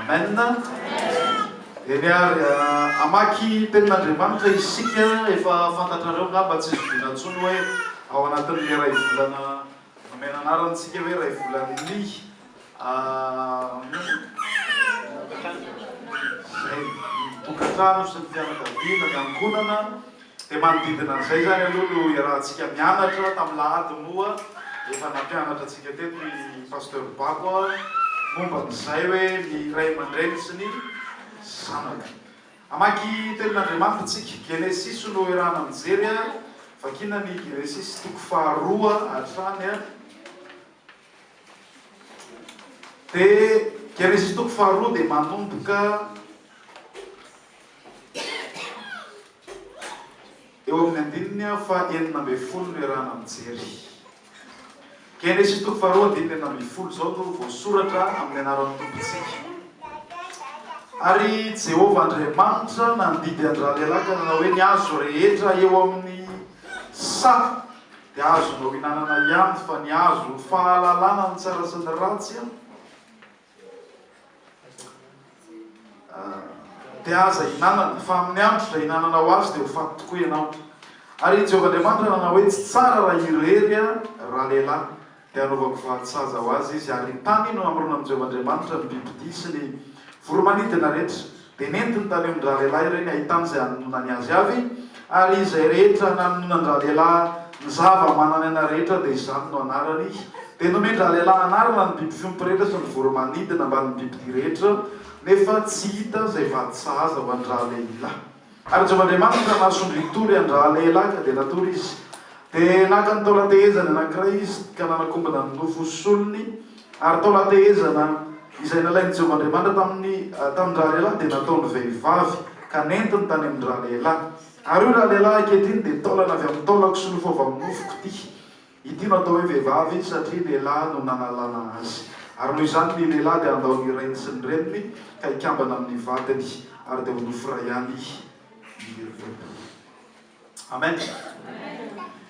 Amen. Eny ary ah, amaky tenin'Andriamanitra isika, efa fantatrareo ngamba tsy zoviana intsony hoe ao anatin'ilay iray volana nomena anarana antsika hoe iray volan'ny ah, tokantrano sy ny fianakaviana, ny ankohonana. Dia manodidina an'izay izany aloha no iarahantsika mianatra, tamin'ny lahady moa efa nampianatra antsika teto i Pasteur Bako momba an'izay hoe ny ray aman-dreny sy ny zanaka. Hamaky tenin'Andriamanitra isika, Genesisy no iarahana mijery, vakina ny Genesisy toko faharoa hatrany, dia Genesisy toko faharoa dia manomboka. Eo amin'ny andininy fa enina ambin'ny folo no iarahana mijery. Genesisy toko faharoa andininy enina ambin'ny folo izao no voasoratra amin'ny anaran'ny Tompontsika. Ary Jehovah Andriamanitra nandidy an-dralehilahy ka nanao hoe, Ny hazo rehetra eo amin'ny saha dia azonao ihinanana ihany, fa ny hazo fahalalana ny tsara sy ny ratsy Dia aza ihinanana, fa amin'ny andro ihinananao azy dia ho faty tokoa ianao. Ary i Jehovah Andriamanitra nanao hoe, Tsy tsara raha irery ralehilahy, dia hanaovako varin-tsaza ho azy izy, ary tany no hamorona amin'i Jehovah Andriamanitra ny bibidia sy ny voromanidina rehetra. Dia nentiny tany amin-dRalehilahy ireny ahitana izay hanononany azy avy, ary izay rehetra nanononan-dRalehilahy ny zava-manany anay rehetra dia izany no anarany. Dia nomen-dRalehilahy anarana ny biby fiompy rehetra sy ny voro-manidina ambanin'ny bibidia rehetra, nefa tsy hita izay vady sahaza ho an-dRalehilahy. Ary Jehovah Andriamanitra nahasondry hitory an-dRalehilahy, ka dia natory izy. Dia naka ny taolan-tehezany anankiray izy, ka nanakombona ny nofo solony, Ary tao Latehezana, izay nalain'i Jehovah Andriamanitra tamin'ny tanin-dralehilahy dia nataony vehivavy, ka nentiny tany amin-dralehilahy. Ary io ralehilahy ankehitriny dia taolana avy amin'ny taolako sy nofo avy amin'ny nofoko ity. Ity no atao hoe vehivavy, satria lehilahy no nanalana azy. Ary noho izany ny lehilahy dia handao ny rainy sy ny reniny, ka hikambana amin'ny vadiny, ary dia ho nofo iray ihany izy ireo. Amen!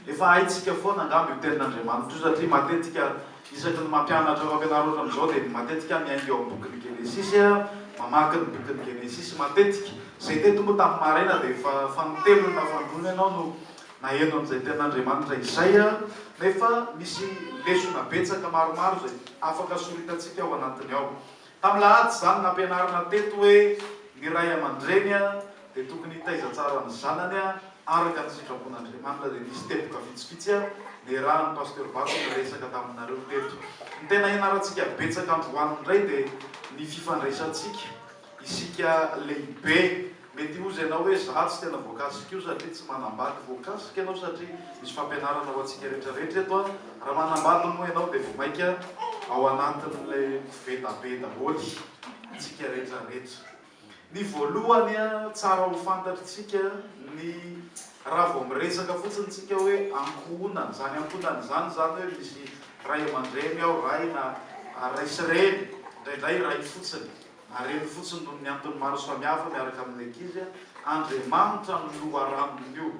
Efa haintsika foana angamba io tenin'Andriamanitra io satria matetika isaky ny mampianatra ireo mpianareo hatramin'izao dia matetika aho miainga eo amin'ny bokin'ny Genesisy aho, mamaky ny bokin'ny Genesisy matetika. Izay tety moa tamin'ny maraina dia efa fanintelony na fandroany ianao no naheno an'izay tenin'Andriamanitra izay nefa misy lesona betsaka maromaro izay afaka soritantsika ao anatiny ao. Tamin'ny lahady izany, nampianarina teto hoe ny ray aman-dreny dia tokony hitaiza tsara ny zanany araka ny sitrapon'Andriamanitra dia nisy teboka vitsivitsy niarahan'i Pasteur Bato niresaka taminareo teto. Ny tena hianarantsika betsaka androany indray dia ny fifandraisantsika isika lehibe Mety hihoza ianao hoe, Izaho tsy tena voakasika io satria tsy manambady. Voakasika ianao satria misy fampianarana ho antsika rehetra rehetra eto. Raha manambady moa ianao dia vao mainka ao anatin'ilay koveta be daholo isika rehetra rehetra. Ny voalohany, tsara ho fantatr'isika ny raha vao miresaka fotsiny isika hoe ankohonana. Izany ankohonana izany, izany hoe misy ray aman-dreny ao, ray na ray sy reny, indraindray ray fotsiny. Marihiny fotsiny noho ny antony maro samihafa miaraka amin'ny ankizy Andriamanitra ny loharanony io.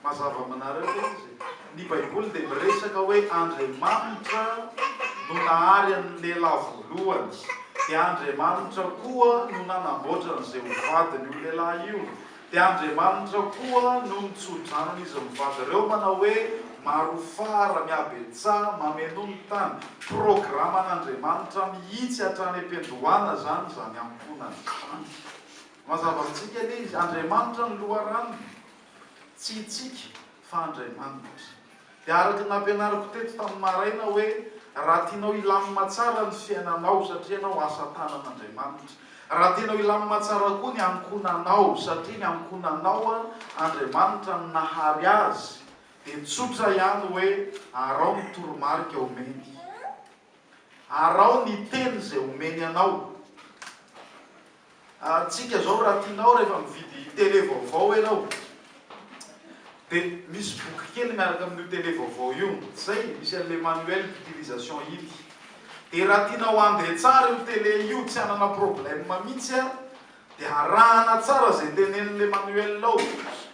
Mazava aminareo ve izy e? Ny Baiboly dia miresaka hoe Andriamanitra no nahary an'ny lehilahy voalohany, dia Andriamanitra koa no nanamboatra an'izay ho vadiny io lehilahy io. Dia Andriamanitra koa no mitso-drano an'izy mivady ireo, manao hoe, Marofara, mihabetsaha, mamenoa ny tany. Programan'Andriamanitra mihitsy hatrany am-piandohana izany, izany ankohonana izany. Mazava amintsika anie izy, Andriamanitra no loharanony. Tsy isika, fa Andriamanitra. Dia araka ny nampianariko teto tamin'ny maraina hoe raha tianao hilamina tsara ny fiainanao satria ianao asa tanan'Andriamanitra, raha tianao hilamina tsara koa ny ankohonanao satria ny ankohonanao Andriamanitra no nahary azy dia tsotra ihany hoe araho ny toromarika omeny. Araho ny teny izay omeny anao. Antsika zao raha tianao rehefa mividy télé vaovao ianao de misy boky kely miaraka amin'io télé vaovao io zay misy an'le manuel d'utilisation iny de raha tianao handre tsara io télé io tsy hanana problème mitsy a de arahana tsara zay tenenin'le manuel ao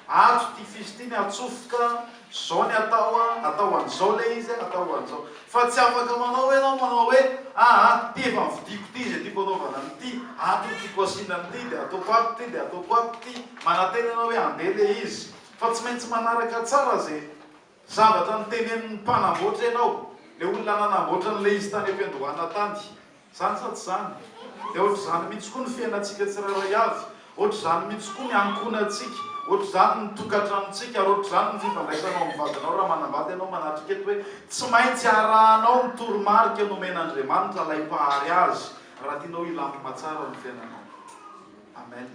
ato ty fils ty ny atsofoka Zao ny atao a, atao an'izao le izy a, atao an'izao. Fa tsy afaka manao hoe ianao manao hoe, ah ah, ty efa novidiako ty izay tiako anaovana an'ity, ato no tiako asiana an'ity dia ataoko ato ty dia ataoko ato ty. Manantena ianao hoe andeha le izy. Fa tsy maintsy manaraka tsara izay zavatra notenenin'ny mpanamboatra ianao, le olona nanamboatra an'ilay izy tany am-piandohana tany. Zany sa tsy zany? Dia ohatr'izany mihitsy koa ny fiainantsika tsirairay avy, ohatr'izany mihitsy koa ny ankohonantsika, ohatr'izany ny tokantranontsika, ary ohatr'izany ny fifandraisanao amin'ny vadinao raha manambady ianao manatrika eto hoe tsy maintsy arahanao ny toromarika nomen'Andriamanitra, ilay Mpahary azy, raha tianao hilamina tsara ny fiainanao. Amen.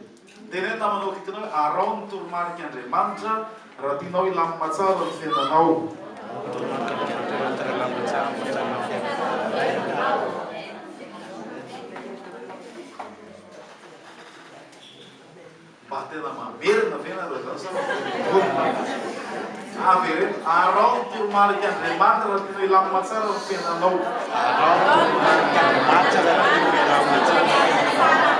Teneno namana eo akaikinao hoe araho ny toromarik' Andriamanitra raha tianao hilamina tsara ny fiainanao. Mba tena mamerina ve nareo zany sa mba tena mivondrona? Avereno. Araho ny toromarik'Andriamanitra raha tianao hilamina tsara ny fiainanao. Araho ny toromarik'Andriamanitra raha tianao hilamina tsara ny fiainanao.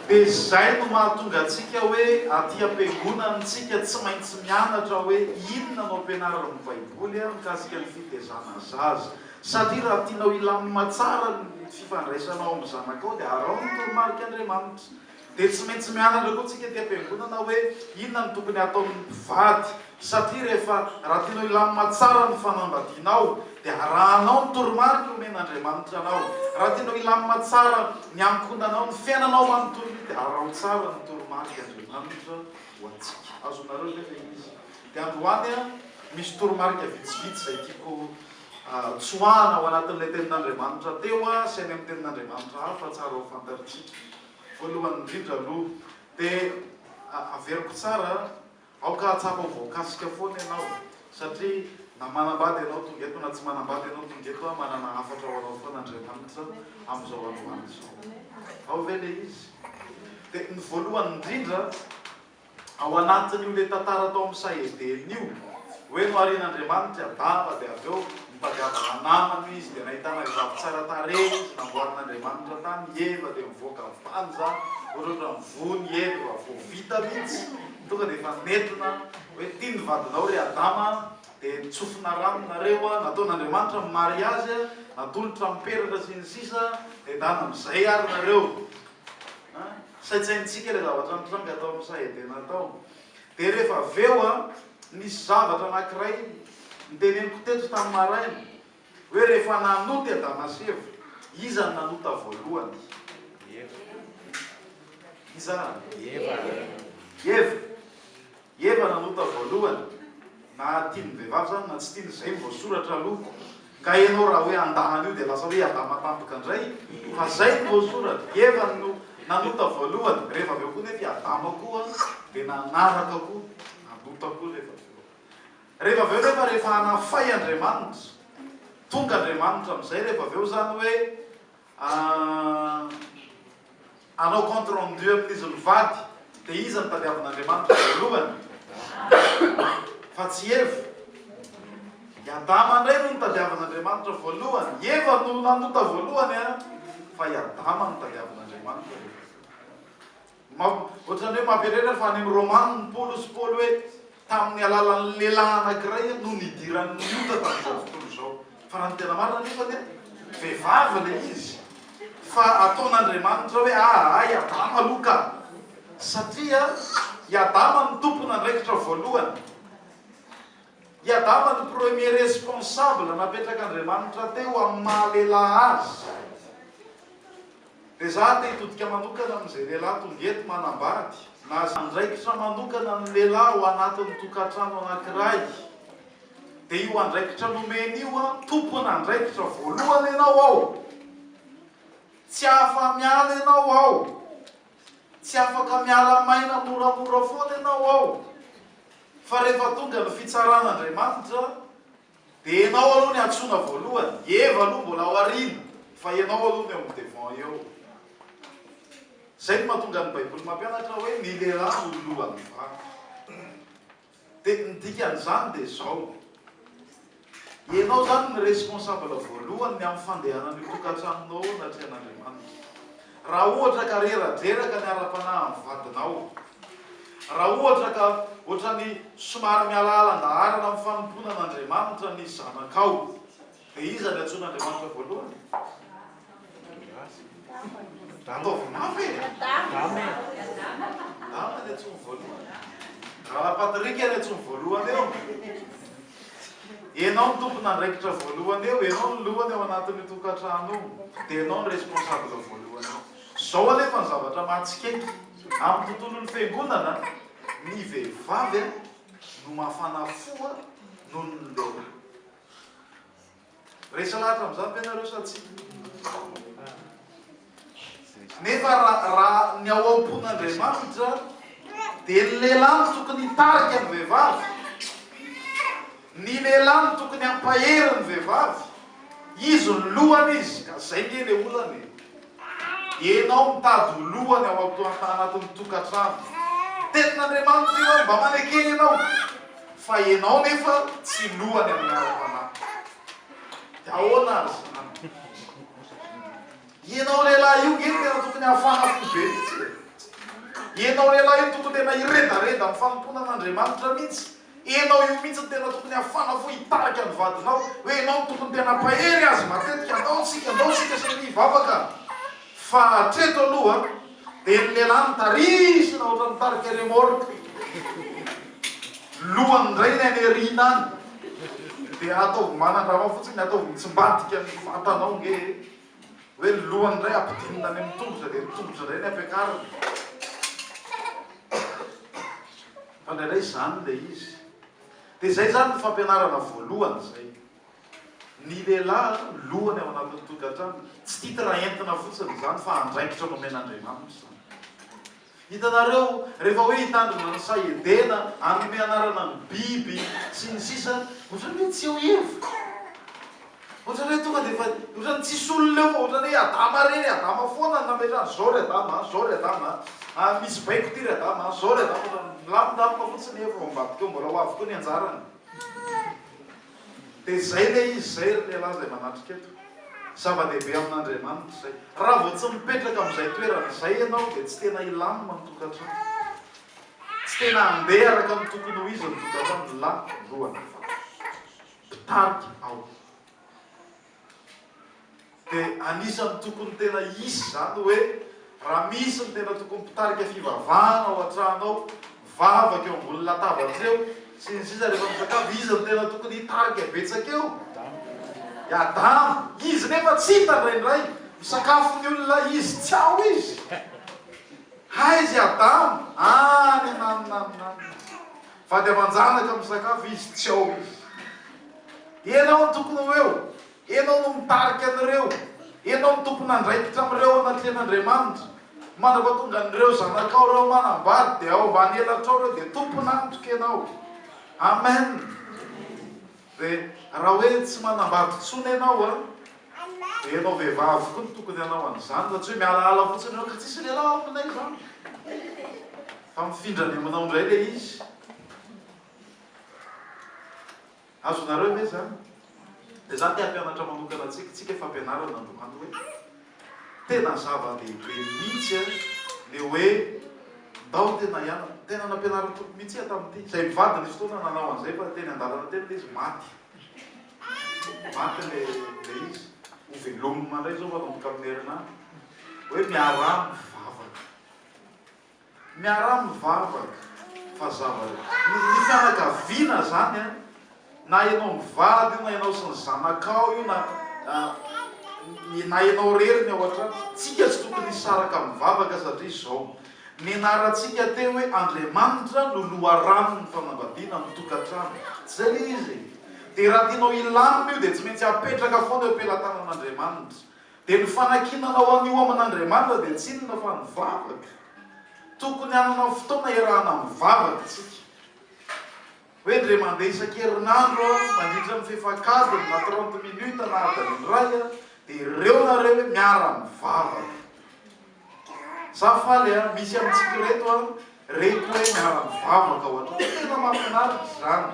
Dia izay no mahatonga antsika hoe aty am-piangonana tsika tsy maintsy mianatra hoe inona no ampianarin'ny Baiboly mikasika ny fitaizana zaza. Satria raha tianao hilamina tsara ny fifandraisanao amin'ny zanakao dia araho ny toromarik'Andriamanitra. Dia tsy maintsy mianatra koa tsika ety am-piangonana hoe inona no tokony hataon'ny mpivady. Satria rehefa raha tianao hilamina tsara ny fanambadianao dia arahanao ny toromarika omen'Andriamanitra anao. Raha tianao hilamina tsara ny ankohonanao, ny fiainanao manontolony dia araho tsara ny toromarik'Andriamanitra ho antsika. Azonareo ve ilay izy? Dia androany misy toromarika vitsivitsy izay tiako Tsoahina ao anatin'ilay tenin'Andriamanitra teo sy any amin'ny tenin'Andriamanitra hafa tsara ho fantarintsika. Voalohany indrindra aloha dia averiko tsara, aoka hahatsapa ho voakasika foana ianao satria na manambady ianao tonga eto na tsy manambady ianao tonga eto, manana hafatra ho anao foana Andriamanitra amin'izao androany izao. Ao ve ilay izy? Dia ny voalohany indrindra, ao anatin'io le tantara tao amin'ny sahedelina io hoe noharian'Andriamanitra Adama dia avy eo nitadiavana namana izy dia nahitana vehivavy tsara tarehy izy namboarin'Andriamanitra tany i Eva dia mivoaka avy tany izany ohatrohatra ny voany i Eva efa vao vita mihitsy tonga dia efa nentina hoe ty ny vadinao ry Adama dia nitsofina rano nareo a nataon'Andriamanitra ny mariazy a natolotra ny peratra sy ny sisa dia dana amin'izay ary nareo Saintsaintsika ilay zavatra nitranga tao amin'ny saha Edena tao. Dia rehefa avy eo an, nisy zavatra anankiray noteneniko teto tamin'ny maraina, hoe rehefa nanota i Adama sy Eva, iza no nanota voalohany? Iza? Eva. Eva nanota voalohany, na tia ny vehivavy zany na tsy tiany, zay ny voasoratra aloha, ka ianao raha hoe handà an'io dia lasa hoe Adama tampoka indray, fa zay ny voasoratra, Eva no nanota voalohany, rehefa avy eo koa nefa i Adama koa dia nanaraka koa, nanota koa rehefa avy eo. Rehefa avy eo nefa rehefa hanafay Andriamanitra, tonga Andriamanitra amizay rehefa avy eo zany hoe Ahh. Anao compte rendu amin'izy mivady dia iza no tadiavin'Andriamanitra voalohany? Fa tsy Eva? I Adama indray no notadiavin'Andriamanitra voalohany. I Eva no nanota voalohany an! Fa i Adama no tadiavin'Andriamanitra. Ohatran'ny hoe mampaherera fa any amin'ny Romaniny Paolo sy Paoly hoe tamin'ny alalan'ny lehilahy anankiray no nidiran'ny ota tamin'izao tontolo izao. Fa raha ny tena marina anefa dia vehivavy ilay izy. Fa ataon'Andriamanitra hoe ahaha i Adama aloha ka. Satria i Adama no tompon'andraikitra voalohany. I Adama no premier responsable napetrak'Andriamanitra teo amin'ny maha lehilahy azy. Dia za te hitodika manokana amin'izay lehilahy tonga eto manambady na izay andraikitra manokana ny lehilahy ao anatin'ny tokantrano anankiray dia io andraikitra nomeny io an tompon'andraikitra voalohany ianao ao tsy afa miala ianao ao tsy afaka miala maina moramora foana ianao ao fa rehefa tonga ny fitsaran'Andriamanitra Dia ianao aloha ny antsoina voalohany, i Eva aloha mbola aoriana fa ianao aloha no eo amin'ny devant eo. Izay no mahatonga ny baiboly mampianatra hoe ny lehilahy no lohan'ny vavy. Dia ny dikan'izany dia izao, ianao izany ny responsable voalohany ny amin'ny fandehanan'io tokantranonao io anatrehan'Andriamanitra. Raha ohatra ka rera-dreraka ny ara-panahin'ny vadinao, Raha ohatra ka ohatran'ny somary mialaala an-daharana amin'ny fanompoana an'Andriamanitra ny zanakao, dia iza no iantsoana Andriamanitra voalohany? Ataovy mafy e! Adama no iantsoany voalohany. Rahalahy Patrick no iantsoany voalohany eo. Ianao no tompon'andraikitra voalohany eo, ianao no lohany ao anatin'io tokantrano io, dia ianao no responsable voalohany eo. Izao anefa ny zavatra mahatsikaiky. Amin'ny tontolon'ny fiangonana, ny vehivavy no mafana fo noho ny lehilahy. Rehetra lahatra amin'izany ve ianareo sa tsia? Nefa raha ny ao am-pon'Andriamanitra dia ny lehilahy no tokony hitarika ny vehivavy, ny lehilahy no tokony hampahery ny vehivavy, izy no lohany izy, ka izay nge le olana e! Enao mitady ho lohany ao antoantanatin'ny tokantrano. Tenin'Andriamanitra io ary mba manekena ianao. Fa ianao nefa tsy lohany amin'ny ara-panahy. Dia ahoana ary izany? Ianao lehilahy io nge tena tokony hafana fo be mihitsy e! Ianao lehilahy io tokony tena hiredareda amin'ny fanompoana an'Andriamanitra mihitsy Enao io mihitsy no tena tokony hafana fo hitarika ny vadinao hoe enao no tokony tena mpahery azy matetika andao tsika andao tsika samy hivavaka fa hatreto aloha dia ny lehilahy no tarisina ohatran'ny mitarika remorque lohany indray ny any aoriana any dia ataovy manandrama fotsiny ataovy mitsimbadika ny vatanao nge e hoe ny lohany indray ampidinina any amin'ny tongotra dia ny tongotra indray ny ampiakarina fa indraindray izany ilay izy dia izay izany ny fampianarana voalohany izay ny lehilahy lohany ao anatin'ny tokantrano tsy titre entina fotsiny izany fa andraikitra nomen'Andriamanitra Hitanareo, rehefa hoe hitandrina ny saha Edena, hanome anarana ny biby, sy ny sisa, ohatrany hoe tsy eo hevitra. Ohatrany hoe tonga dia efa, ohatrany tsisy olona eo fa ohatrany hoe Adama re, ry Adama foana no nametrany, izao ry Adama a, izao ry Adama a, a, misy baiko ity ry Adama a, izao ry Adama, ohatrany milamindamina fotsiny, efa ao ambadika ao, mbola ho avy koa ny anjarany. Dia izay ilay izy izay ry lehilahy izay manatrika eto. Zava-dehibe amin'Andriamanitra izay. Raha vao tsy mipetraka amin'izay toerana izay ianao dia tsy tena hilamina ny tokantrano. Tsy tena handeha araka ny tokony ho izy ny tokantrano. Lany voalohany ny fanahy. Mpitarika ao. Dia anisan'ny tokony tena hisy izany hoe raha misy ny tena tokony mpitarika fivavahana ao an-trano ao, mivavaka eo ambony latabatra eo, sy ny sisa rehefa misakafo, izy no tena tokony hitarika betsaka eo. I Adamo, izy nefa tsy hita indraindray, misakafo ny olona izy, tsy ao izy. Aiza i Adamo? Any, nanonanonanona. Vady aman-janaka misakafo izy tsy ao izy. Ianao no tokony ho eo, ianao no mitarika an'ireo, ianao no tompon'andraikitra amin'ireo anatrehan'Andriamanitra. Mandrapa tonga an'ireo zanakao ireo manambady dia ao ambany elatrao ireo dia tompon'antoka ianao. Amen. Dia raha hoe tsy manambady intsony ianao an, dia ianao vehivavy koa no tokony hanao an'izany fa tsy hoe mialaala fotsiny hoe ka tsisy lehilahy ao aminay izany fa mifindra any aminao indray ilay izy. Azonareo ve izany? Dia izaho te hampianatra manokana antsika, isika fampianarana androany hoe Tena zava-dehibe mihitsy a, le hoe ndao tena hianatra. Tena nampianarin'ny Tompo mihitsy aho tamin'ity. Izay mivady nisy fotoana nanao an'izay fa teny an-dalana teny le izy maty. Maty le le izy. Ho velomina indray izao manomboka amin'ny herinandro. Hoe miaraha mivavaka. Miara-mivavaka fa zavatra. Ny fianakaviana zany an, na enao mivady io na enao sy ny zanakao io na na enao rery ny ao an-trano, tsika tsy tokony hisaraka mivavaka satria zao, nianarantsika teo hoe Andriamanitra no loharanon'ny fanambadiana amin'ny tokantrano, tsy zay le izy e? De raha tianao hilamina io de tsy maintsy apetraka foana eo am-pelatanan'Andriamanitra, Dia ny fanakianana ho an'io aman' Andriamanitra dia tsy inona fa ny vavaka. Tokony hanana fotoana hiarahana mivavaka isika. Hoe indray mandeha isan-kerinandro aho, mandritra ny fefak'adiny na trente minutes na adiny iray aho, dia ireo nareo hoe miara-mivavaka. Za faly a, misy amintsika reto a, reko hoe miara mivavaka ho anao, tena mafinaritra izany,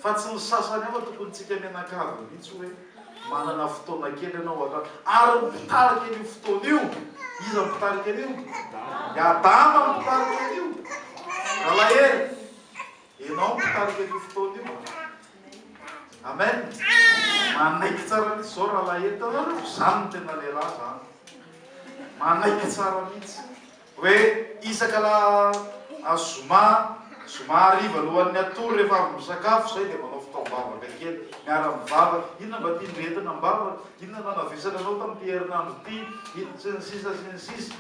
fa tsy ny sasany hafa tokony tsika mianakavy mihitsy hoe manana fotoana kely anao aloha, ary ny mpitarika an'io fotoana io, iza ny mpitarika an'io? I Adama no mpitarika an'io, Ralahelo. Enao no tarika an'io fotoana io a. Amen. Manaiky tsara mihitsy zao raha laheta zany no tena lehilahy zany. Manaiky tsara mihitsy. Hoe isaka la azoma zoma hariva lohan'ny atory rehefa avy misakafo zay dia manao fitaom-bavaka kely miara mivavaka inona mba tian'i retina am-bavaka inona no nanavesana anao tamin'ity herinandro ity sy ny sisa sy ny sisa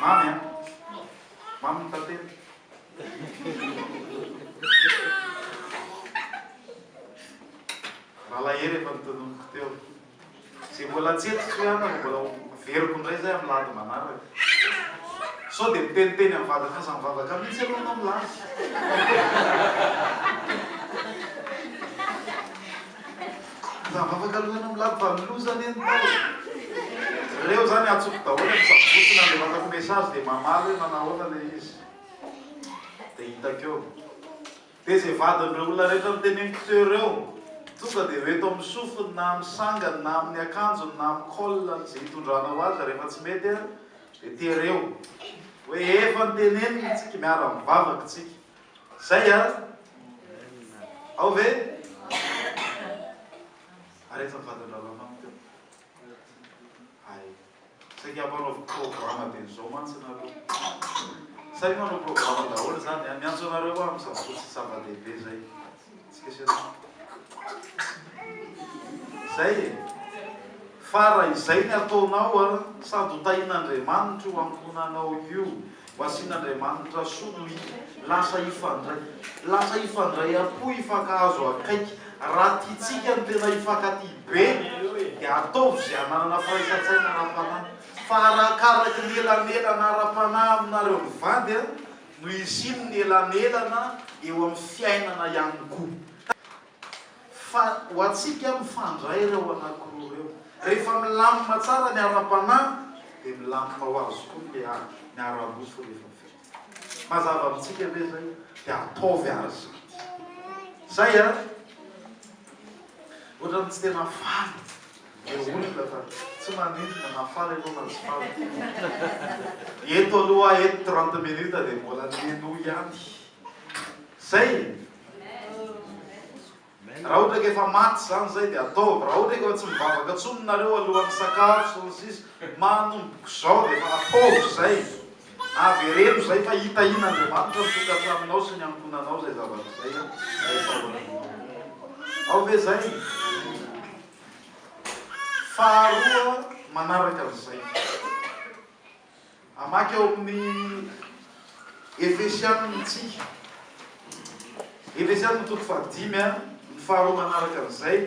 Mamy an! Mamy ny tantely. Nalahery efa ny tononiko teo. Izay mbola tsy eto tsy hana no mbola veriko indray izay amin'ny lady manaraka. Sao dia miteniteny amin'ny vadinao izany vavaka mihitsy ianao no milaza. Raha vavaka aloha ianao milady fa loza anie ny tao e! Reo zany atsoko daholo e, misavotsona le vatako message de mamaly hoe manahoana le izy de hitako eo. De ze vadin'reo olona rehetra noteneniko teo reo tonga de ho eto amin'ny sofiny na amin'ny sangany na amin'ny akanjony na amin'ny col-ny ze hitondranao azy rehefa tsy mety an de tereo hoe efa notenenina tsika miara mivavaka tsika Zay an? Ao ve? Ary efa vaton-drahalahy manko teo. Hay. Saika hampanaovy programa be an'izao mantsy nareo. Saika manao programa daholo zany an? Miantso anareo hoa amin'izany fotsy zava-dehibe zay. Izay e! Fa raha izay ny ataonao an, sady ho tahin'Andriamanitra io ankohonanao io, ho asian'Andriamanitra soa no hita. Lasa hifandray. Lasa hifandray am-po, hifankahazo akaiky. Raha tiantsika ny tena hifankatia be, dia ataovy izay hananana firaisan-tsaina ara-panahy. Fa arakaraky ny elanelana ara-panahy aminareo mivady an, Noho izy iny ny elamelana eo amin'ny fiainana ihany koa. Fa ho antsika mifandray ireo anankiroa ireo. Rehefa milamina tsara ny ara-panahy dia milamina ho azy koa ny lehilahy, ny ara-nofo rehefa vita. Mazava amintsika ve izay? Dia ataovy àry izany. Izay an! Ohatran'ny tsy tena faly. Dia olona fa tsy manindrona na faly aloha na tsy faly ty e. Eto aloha aho eto trente minutes dia mbola mihainoa ihany. Zay e. Raha ohatra ka efa maty zany zay dia ataovy. Raha ohatra ka tsy mivavaka tsony nareo alohan'ny misakafo sy ny sisa. Manomboko zao dia efa ataovy zay. Avereno zay fa hitahian'Andriamanitra ny tokantranonao sy ny ankohonanao zay zavatra zay a. Ao ve zay? Faharoa manaraka an'izay, hamaky ao amin'ny Efesianina isika, Efesianina toko fahadimy a, ny faharoa manaraka an'izay.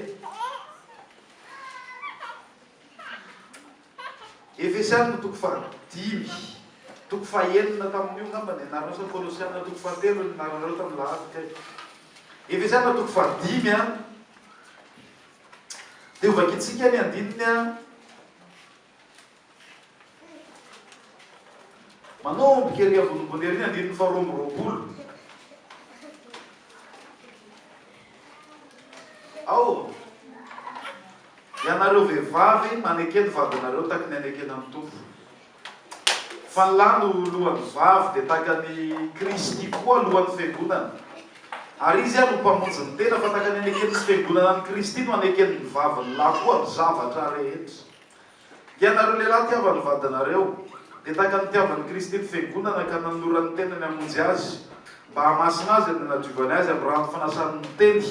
Efesianina toko fahadimy toko fahenina tamin'io angamba ny anarana sa Kolosianina toko fahatelo ny anaranareo tamin'ny lahady kay. Efesianina toko fahadimy a. Dia hovakintsika ny andininy a. Manomboka ery ambonimbony ery ny andininy faharoa amby roapolo. Ao! Ianareo vehivavy manekeny vadinareo taky ny anekena ny Tompo. Fa ny lahy no lohan'ny vavy dia taka ny Kristy koa lohan'ny fiangonana. Ary Izy ary ho mpamonjy ny tena fa taka ny anekeny sy fiangonana ny Kristy no anekeny ny vavy ny lahy koa amin'ny zavatra rehetra. Ianareo lehilahy tiava ny vadinareo, dia tahaka ny nitiavan'i Kristy ny Fiangonana ka nanolora ny tenany hamonjy azy, mba hahamasina azy ary hanadiovany azy amin'ny rano fanasany ny teny,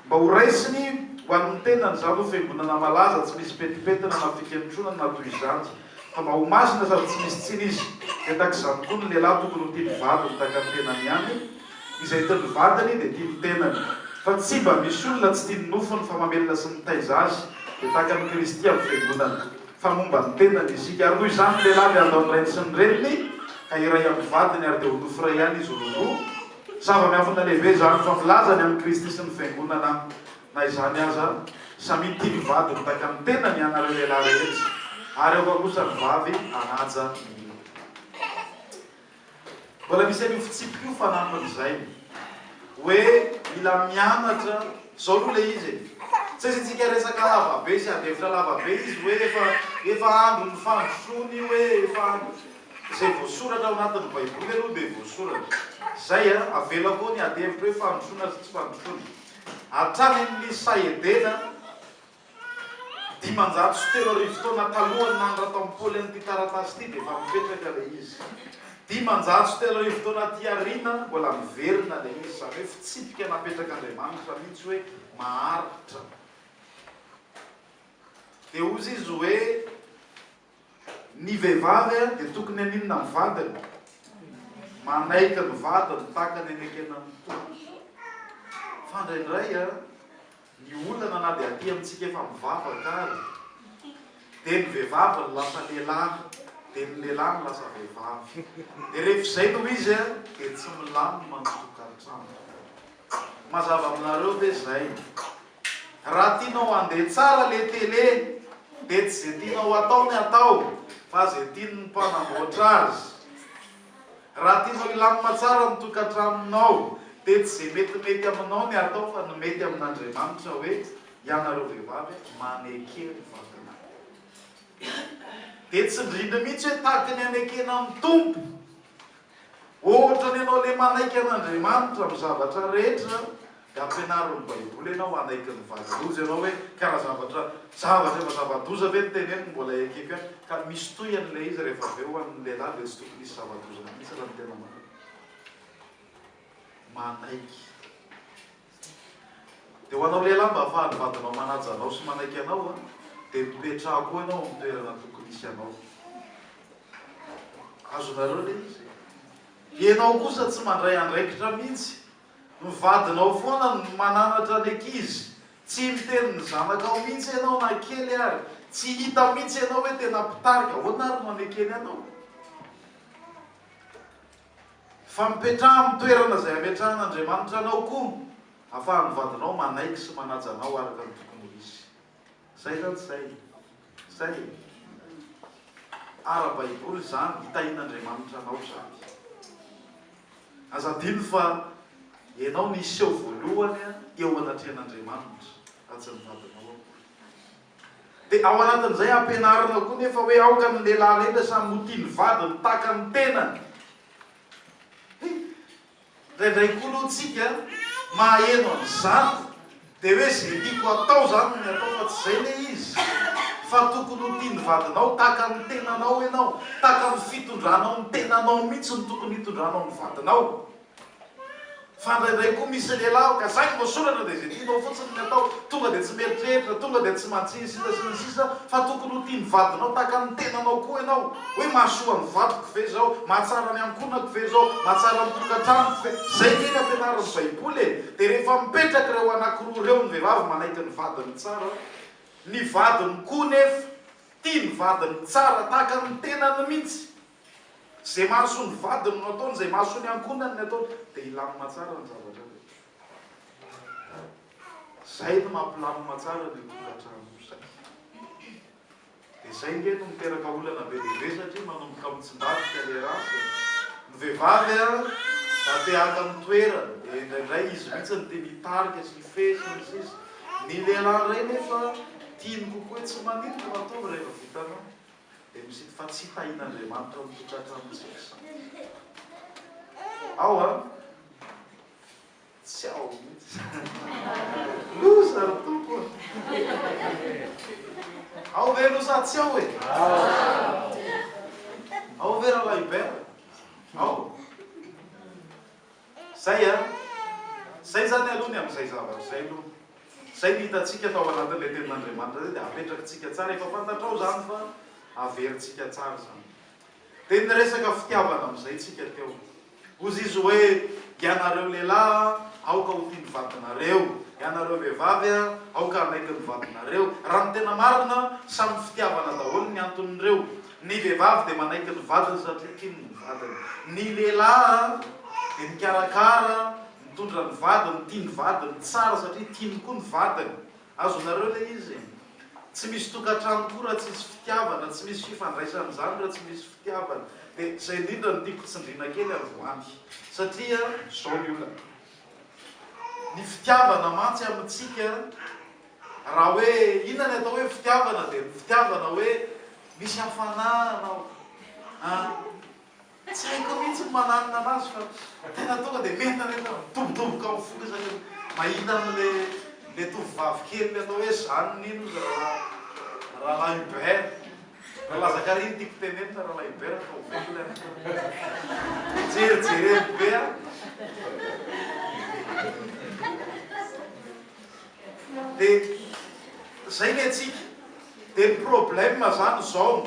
mba ho raisiny ho an'ny tenany, izany ho Fiangonana malaza, tsy misy petipetina na fikentronan na toy izany, fa mba ho masina sady tsy misy tsiny izy. Dia tahaka izany koa ny lehilahy tokony ho tia ny vadiny tahaka ny tenany ihany. Izay tian'ny vatany dia tian'ny tenany, fa tsy mba misy olona tsy tian'ny nofony fa mamelona sy mitaiza azy, dia tahaka an'i Kristy amin'ny Fiangonana, fa momba ny tenany isika. Ary noho izany ny lehilahy dia handao ny rainy sy ny reniny, ka hiray amin'ny vadiny, ary dia ho nofo iray ihany izy roa. Zava-miafina lehibe izany, fa milaza ny amin'i Kristy sy ny Fiangonana aho. Na izany aza, samia tia ny vadiny tahaka ny tenany ianareo lehilahy rehetra, ary aoka kosa ny vavy hanaja ny. Mbola misy an'io fitsipika io fanampiny izay hoe mila mianatra, izao aloha ilay izy e! Tsy asiantsika resaka lava be sy adihevitra lava be izy hoe efa efa andron'ny fandrosoana io hoe efa andron'ny izay voasoratra ao anatin'ny baiboly aloha dia voasoratra izay a! Avela koa ny adihevitra hoe fandrosoana sy tsy fandrosoana hatrany amin'ny sahy edena Dimanjato sy telo arivo taona talohan'ny nanoratan'i Paoly an'ity taratasy ity dia efa mipetraka ilay izy. Dimanjato sy telo arivo taona aty aoriana, mbola miverina ilay izy, izany hoe fitsipika napetrak'Andriamanitra mihitsy hoe maharitra. Dia hozy izy hoe, Ny vehivavy dia tokony haninona amin'ny vadiny? Manaiky ny vadiny tahaka ny anekena ny tongony. Fa indraindray, Ny olana na dia aty amintsika efa mivavaka ary dia ny vehivavy no lasa lehilahy dia ny lehilahy no lasa vehivavy dia rehefa izay no izy an dia tsy milamina ny tokantrano. Mazava aminareo ve izay? Raha tianao handeha tsara ilay télé dia tsy izay tianao hatao ny hatao fa izay tian'ny mpanamboatra azy. Raha tianao hilamina tsara ny tokantranonao dia tsy izay metimety aminao ny atao fa ny mety amin'Andriamanitra hoe ianareo vehivavy maneke ny vatana dia tsindriny mihitsy hoe tahaka ny anekena ny Tompo ohatra ny ianao le manaiky an'Andriamanitra amin'ny zavatra rehetra Dia ampianaro ny Baiboly ianao, hanaiky ny valan-doza ianao hoe kara zavatra zavatra efa zava-doza ve ny teneniny, mbola ekeko ihany, ka misy tohiny ilay izy rehefa avy eo ho an'ny lehilahy dia tsy tokony hisy zava-doza mihitsy raha ny tena marina. Manaiky. Dia ho anao lehilahy mba hahafahan'ny vadinao manaja anao sy manaiky anao an, dia mipetraha koa ianao amin'ny toerana tokony hisy anao. Azonareo ilay izy? Ianao kosa tsy mandray andraikitra mihitsy Ny vadinao foana no mananatra ny ankizy, tsy miteny ny zanakao mihitsy ianao na kely ary, tsy hita mihitsy ianao hoe tena mpitarika, ahoana ary no anekeny anao? Fa mipetraha amin'ny toerana izay ametrahan'Andriamanitra anao koa, afahan'ny vadinao manaiky sy manaja anao araka ny tokony ho izy. Zay zany tsy zay e! Zay e! Ara-baiboly izany, hitahian'Andriamanitra anao izany. Aza adino fa ianao no hiseho voalohany eo anatrehan'Andriamanitra, raha tsy ny vadinao akory. Dia ao anatin'izay ampianarina koa nefa hoe aoka ny lehilahy rehetra samy ho tia ny vadiny tahaka ny tenany. He! Indraindray koa aloha tsika mahaheno an'izany dia hoe ze tiako atao zany no miatao fa tsy zay le izy fa tokony ho tian'ny vadinao tahaka ny tenanao enao tahaka ny fitondranao ny tenanao mitsy ny tokony hitondranao ny vadinao fa indraindray koa misy lehilahy ho ka zay voasoratra dia ze tianao fotsiny ny atao tonga dia tsy mieritreritra tonga dia tsy mantsiny sisa sy ny sisa fa tokony ho tian'ny vadinao tahaka ny tenanao koa enao Hoe mahasoa ny vadiko ve izao? Mahatsara ny ankohonako ve izao? Mahatsara ny tokantranoko ve? Izay ve ny ampianarin'ny Baiboly e? Dia rehefa mipetraka ireo anankiroa ireo ny vehivavy manaiky ny vadiny tsara, ny vadiny koa nefa tia ny vadiny tsara tahaka ny tenany mihitsy, izay mahasoa ny vadiny no ataony, izay mahasoa ny ankohonany ny ataony, dia hilamina tsara ny zavatra rehetra. Izay no mampilamina tsara ny tokantrano. Dia izay nge no miteraka olana be dia be satria manomboka mitsindatika le race e! Ny vehivavy a! Mba te haka ny toerany dia indraindray izy mihitsy no tiany hitarika sy hifehy sy ny sisa Ny lehilahy indray nefa tiany kokoa hoe tsy maninona fa ataovy rehefa vitanao dia misita fa tsy tahin'Andriamanitra mitotraka amintsika izany ao a! Tsy ao mihitsy izany. Loza ry Tompo a! Ao ve loza tsy ao e? Ao ve Rahalahy Hubert? Ao. Zay a! Zay zany aloha ny amin'izay zavatra izay aloha. Zay ny hitantsika tao anatin'ilay Tenin'Andriamanitra izay dia apetrakitsika tsara. Efa fantatrao izany fa averintsika tsara izany. Dia niresaka fitiavana amin'izay tsika teo. Hozy izy hoe, Ianareo lehilahy an, aoka ho tia ny vadinareo. Ianareo vehivavy an, aoka hanaiky ny vadinareo. Raha ny tena marina, samy fitiavana daholo ny anton'ireo. Ny vehivavy dia manaiky ny vadiny satria tiany ny vadiny. Ny lehilahy dia mikarakara, mitondra ny vadiny, tia ny vadiny, tsara satria tiany koa ny vadiny. Azonareo ilay izy e! Tsy misy tokantrano koa raha tsisy fitiavana, tsy misy fifandraisana izany raha tsy misy fitiavana. Dia izay indrindra no tiako tsindriana kely avy ho any. Satria izao ny olana, ny fitiavana mantsy amintsika, raha hoe inona ny atao hoe fitiavana dia ny fitiavana hoe misy hafanana ao an! Tsy haiko mihitsy ny mananona anazy fa tena tonga dia mientanentana midobodoboka amin'ny foko izahay rehefa mahita an'ilay tovovavy kely atao hoe Jeanne iny hoy zareo Rahalahy Hubert. Ralazakary no tiako tenenina, Rahalahy Hubert fa ho velona ianao. Jerijereny be aho. De zay ny antsika. De ny problème zany zao,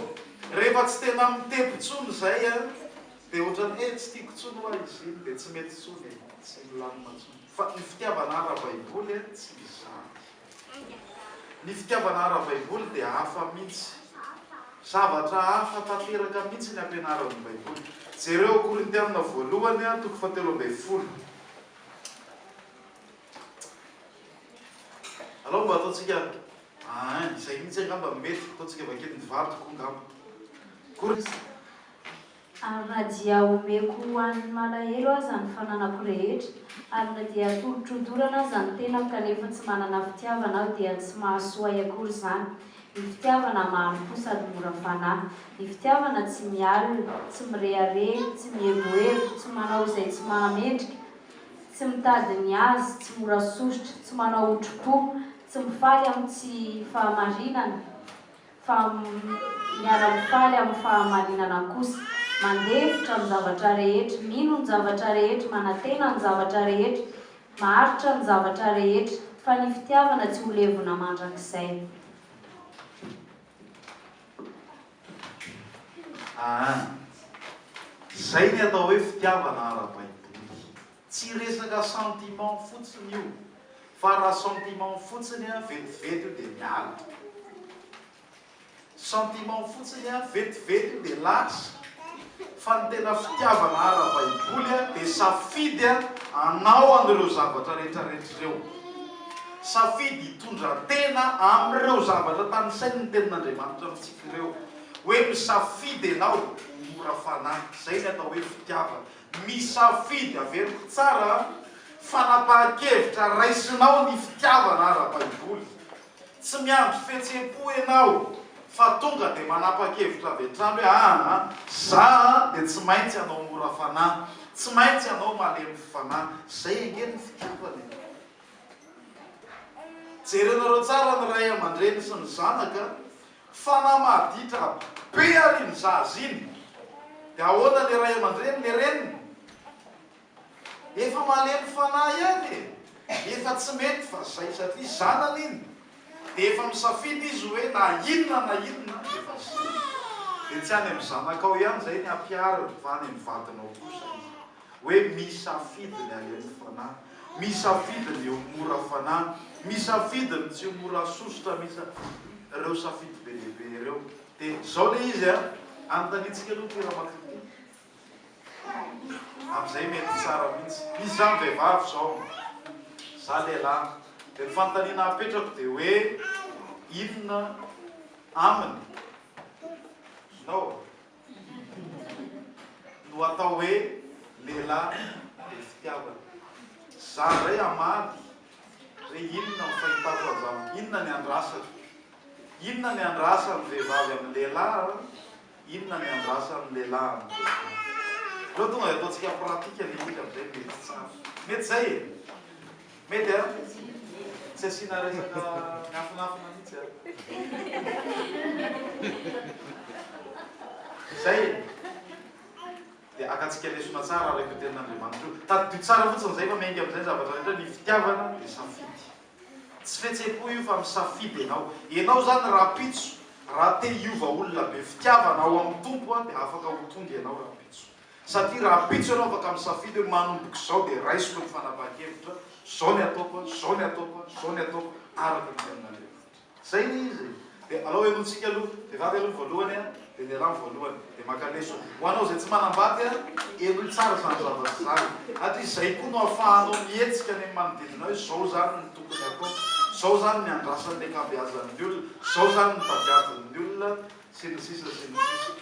rehefa tsy tena mitempo tsony zay an, de otrany hoe tsy tiko tsony oa izy iny de tsy mety tsony e, tsy milamina tsony. Fa ny fitiavana ara baiboly an tsy izany. Ny fitiavana ara baiboly de hafa mintsy. Zavatra hafa tanteraka mintsy ny ampianaran'ny baiboly. Jereo Korintiana voalohany an toko fahatelo ambin'ny folo. Alou mba ataontsika aa izay mihitsy angamba mety ataontsika vakio ny vady koa angamba koa. Ary na dia omeko ho an' ny malahelo aza ny fananako rehetra, ary na dia atolotro ho dorana aza ny tenako kanefa tsy manana fitiavana aho dia tsy mahasoa ahy akory izany, ny fitiavana mahalokoa sady mora fanahy, ny fitiavana tsy mialona, tsy mirehareha, tsy mievoevo, tsy manao izay tsy mahamendrika, Tsy mitady ny azy, tsy mora sosotra, tsy manao otrim-po, tsy mifaly amin'ny tsy fahamarinana, fa miara-mifaly amin'ny fahamarinana kosa, mandefitra ny zavatra rehetra, mino ny zavatra rehetra, manantena ny zavatra rehetra, maharitra ny zavatra rehetra, fa ny fitiavana tsy ho levona mandrakizay. Aa! Izay ny atao hoe fitiavana ara-baiboly. Tsy resaka sentiment fotsiny io, fa raha sentiment fotsiny an, vetivety io dia miala. Sentiment fotsiny an, vetivety io dia lasa. Fa ny tena fitiavana ara-baiboly dia safidy hanao an'ireo zavatra rehetrarehetra ireo. Safidy hitondra tena amin'ireo zavatra tanisain'ny Tenin'Andriamanitra amintsika ireo. Hoe misafidy ianao ho mora fanahy. Izay ny atao hoe fitiavana. Misafidy, averiko tsara an, fanapahan-kevitra raisinao ny fitiavana ara-baiboly. Tsy miandry fihetsem-po ianao fa tonga dia manapa-kevitra avy hatrany hoe aa za dia tsy maintsy hanao mora fanahy, tsy maintsy hanao malemy fanahy. Izay ange no fitiavana e! Jerenareo tsara ny ray aman-dreny sy ny zanaka, fanahy maditra be ary iny zaza iny dia ahoana le ray aman-dreny, le reniny? Efa malemy fanahy ihany e! Efa tsy mety fa zay satria zanany iny de efa misafidy izy hoe na inona na inona efa zay de tsy any am zanakao ihany zay ny ampihariny fa any am vadinao kosa izy hoe misafidy ny alemy fanahy misafidy ny ho mora fanahy misafidy ny tsy ho mora sosotra misa reo safidy be dia be reo de zao le izy a anontaniantsika aloha ty ramakritika Amzay mety tsara mintsy. Misy zany vehivavy zao, za lehilahy, de ny fanontaniana apetrako de hoe inona aminy no no atao hoe lehilahy be fitiavana. Za ndray hamaly re inona ny fahitako anzany, inona ny andrasako, inona ny andrasan'ny vehivavy amin'ny lehilahy? Inona ny andrasan'ny lehilahy amin'izao fotoana? Aleo tonga dia ataontsika pratique anie isika amin'izay mety tsara. Mety izay e? Mety an? Tsy asiana resaka miafinafina mihitsy an? Izay e? Dia akantsika lesona tsara araka io tenin'Andriamanitra io. Tadidio tsara fotsiny izay fa miainga amin'izay ny zavatra rehetra, ny fitiavana dia safidy. Tsy fihetsem-po io fa misafidy enao. Enao zany rahampitso raha te hiova olona be fitiavana ao amin'ny Tompo an, dia afaka ho tonga enao rahampitso. Satria rahampitso enao afaka misafidy hoe manomboka izao dia raisiko ny fanapahan-kevitra, zao ny ataoko an, zao ny ataoko an, zao ny ataoko araka ny tenin'Andriamanitra. Zay le izy e! De alao henointsika aloha, vehivavy aloha voalohany a, de ny lehilahy ny voalohany, de maka leso. Ho anao izay tsy manambady a, henoy tsara izany zavatra izany, ary izay koa no afahanao mihetsika any amin'ny manodidina hoe zao izany no tokony atao, zao izany ny andrasan'ny ankabeazan'ny olona, zao izany ny tadiavin'ny olona, sy ny sisa sy ny sisa.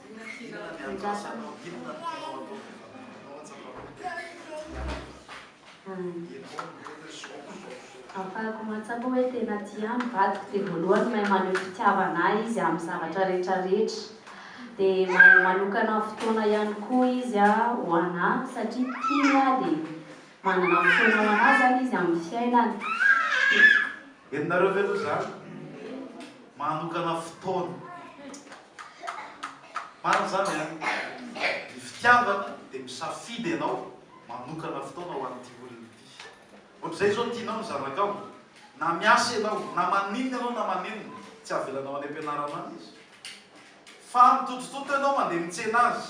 Ahafahako mahatsapa hoe tena tia ahy ny vadiko dia voalohany mahay maneho fitiavana ahy izy amin'ny zavatra rehetra rehetra dia mahay manokana fotoana ihany koa izy ho anà satria tiany ahy dia manana fotoana ho anà izany izy amin'ny fiainany Henonareo ve aloha izany? Manokana fotoana. Marina izany an? Ny fitiavana dia misafidy ianao manokana fotoana ho an'ity olona ity. Ohatr'izay izao tianao ny zanakao, na miasa ianao, na maninona ianao na maninona, tsy avelanao any am-pianarana any izy. Fa mitotototto ianao mandeha mitsena azy.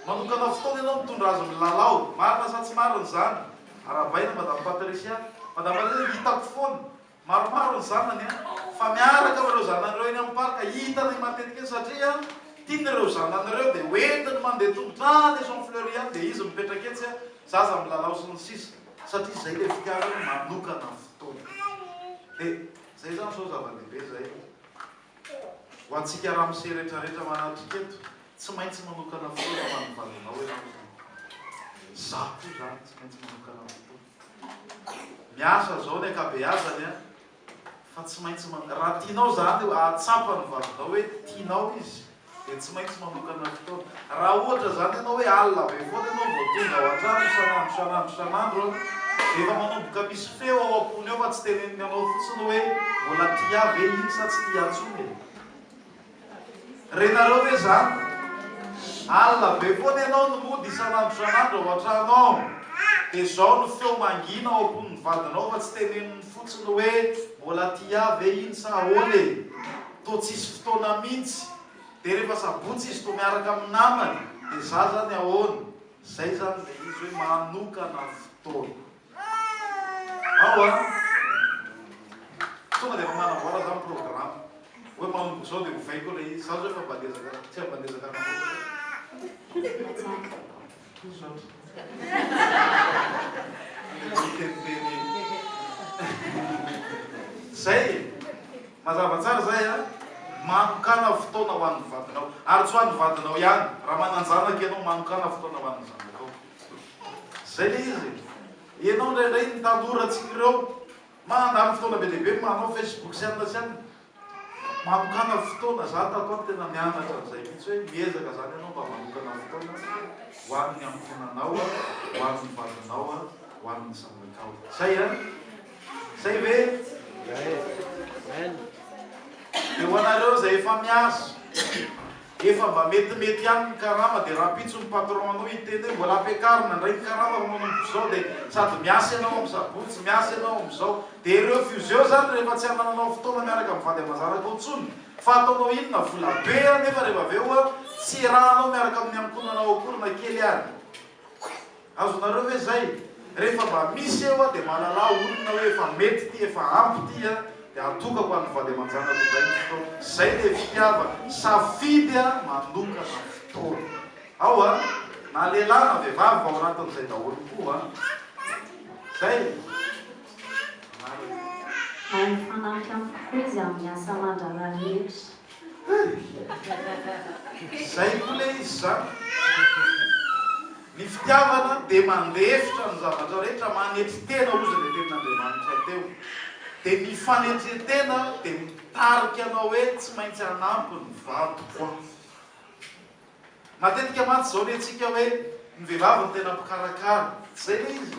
Manokana fotoana ianao mitondra azy milalao. Marina sa tsy marina izany? Arahabaina Madame Patricia. Madame Patricia, hitako foana. Maromaro ny zanany an. Fa miaraka amin'ireo zanany ireo eny amin'ny parc. Hitanay matetika eny satria tiany ireo zanany ireo dia hoentiny mandeha tongotra any Maison Fleurie any dia izy mipetraka etsy, zaza milalao sy ny sisa. Satria izay ilay fitiavany manokana fotoana. Dia izay izany sao zava-dehibe izay. Ho antsika ramose rehetra rehetra manatrika eto, tsy maintsy manokana fotoana ho an'ny valinao ianao Tompo. Izaho koa izany tsy maintsy manokana fotoana. Miasa izao ny ankabeazany an, fa tsy maintsy man, raha tianao izany hahatsapa ny valinao hoe tianao izy, dia tsy maintsy manokana fotoana. Raha ohatra izany ianao hoe alina be foana ianao vao tonga ao an-trano isan'andro isan'andro isan'andro an, dia efa manomboka misy feo ao am-pony ao fa tsy teneniny anao fotsiny hoe mbola tia ahy ve iny sa tsy tia ahy intsony e? Renareo ve izany? Alina be foana ianao no mody isan'andro isan'andro ao an-trano ao, dia izao no feo mangina ao am-pon'ny vadinao fa tsy teneniny fotsiny hoe mbola tia ahy ve iny sa ahoana e? Toa tsisy fotoana mintsy. Dia rehefa sabotsy izy toa miaraka amin'ny namany dia za zany ahoana? Zay zany ilay izy hoe manokana fotoana. Ao an! Tonga dia efa manamboara za ny programme. Hoe manomboka izao dia ovaiko ilay izy. Za zao efa mba niezaka, tsy mba niezaka nanamboatra. Toa izao ndry. Ilay hoe miteniteny iny. Zay e! Mazava tsara izay a! Manokàna fotoana ho an'ny vadinao. Ary tsy ho an'ny vadinao ihany, raha manan-janaka ianao, manokàna fotoana ho an'ny zanakao. Izay ilay izy e! Ianao indraindray ny tanora antsika ireo, mandany fotoana be dia be manao Facebook sy anona sy anona. Manokàna fotoana, izaho tato ato tena nianatra an'izay mihitsy hoe miezaka izany ianao mba manokàna fotoana ho an'ny ankohonanao, ho an'ny vadinao, ho an'ny zanakao. Izay a! Zay ve? Dia ho anareo izay efa miasa, efa mba metimety ihany ny karama dia rahampitso ny patron anao hiteny hoe mbola ampiakarina indray ny karama raha manomboka izao dia sady miasa ianao amin'ny sabotsy, miasa ianao amin'izao dia ireo fuseo izany rehefa tsy anananao fotoana miaraka amin'ny vady aman-janakao intsony fa ataonao inona? Vola be anefa rehefa avy eo tsy iarahanao miaraka amin'ny ankohonanao akory na kely ary. Azonareo ve zay? Rehefa mba misy eo aho dia mahalala olona hoe efa mety ity, efa ampy ity an! Dia atokako an'ny vady aman-janako indray ny fotoana. Izay ilay fitiavana. Safidy an! Manokana fotoana. Ao an! Na lehilahy na vehivavy fa ao anatin'izay daholo koa an! Izay e! Anareo. Mahay mifanampy amiko koa izy amin'ny asa aman-draharaha rehetra. Hey! Zay koa le izy zany. Ny fitiavana dia mandefitra ny zavatra rehetra, manetry tena ozy le tenin'Andriamanitra teo. Dia ny fanetren-tena dia mitarika anao hoe tsy maintsy hanampy ny vadiko aho. Matetika mantsy izao ny antsika hoe ny vehivavy no tena mpikarakara. Tsy izay ve izy?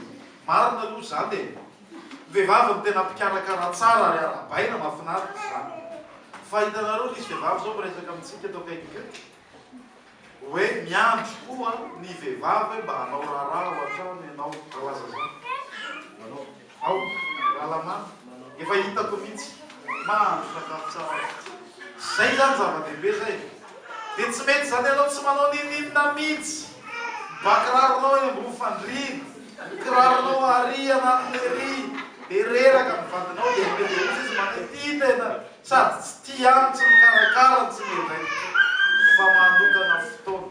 Marina aloha izany e! Ny vehivavy no tena mpikarakara tsara ary arahabaina, mahafinaritra izany. Fa hitanareo misy vehivavy izao miresaka amintsika eto akaikiko eto hoe miandry koa ny vehivavy hoe mba hanao raharaha ao an-trano ianao. Raha laza izany. Aoka Ralamaty, efa hitako mihitsy, mahandro sakafo tsara mihitsy. Zay zany zava-dehibe zay e! Dia tsy mety zany ianao tsy manao ninininona mihitsy! Ba kiraronao eny ambony fandriana, ny kiraronao aria anaty lery, dia reraka amin'ny vadinao dia tonga dia ozy izy manaitia tena sady tsy tia any, tsy mikarakara, tsy miandraikitra fa manokana fotoana.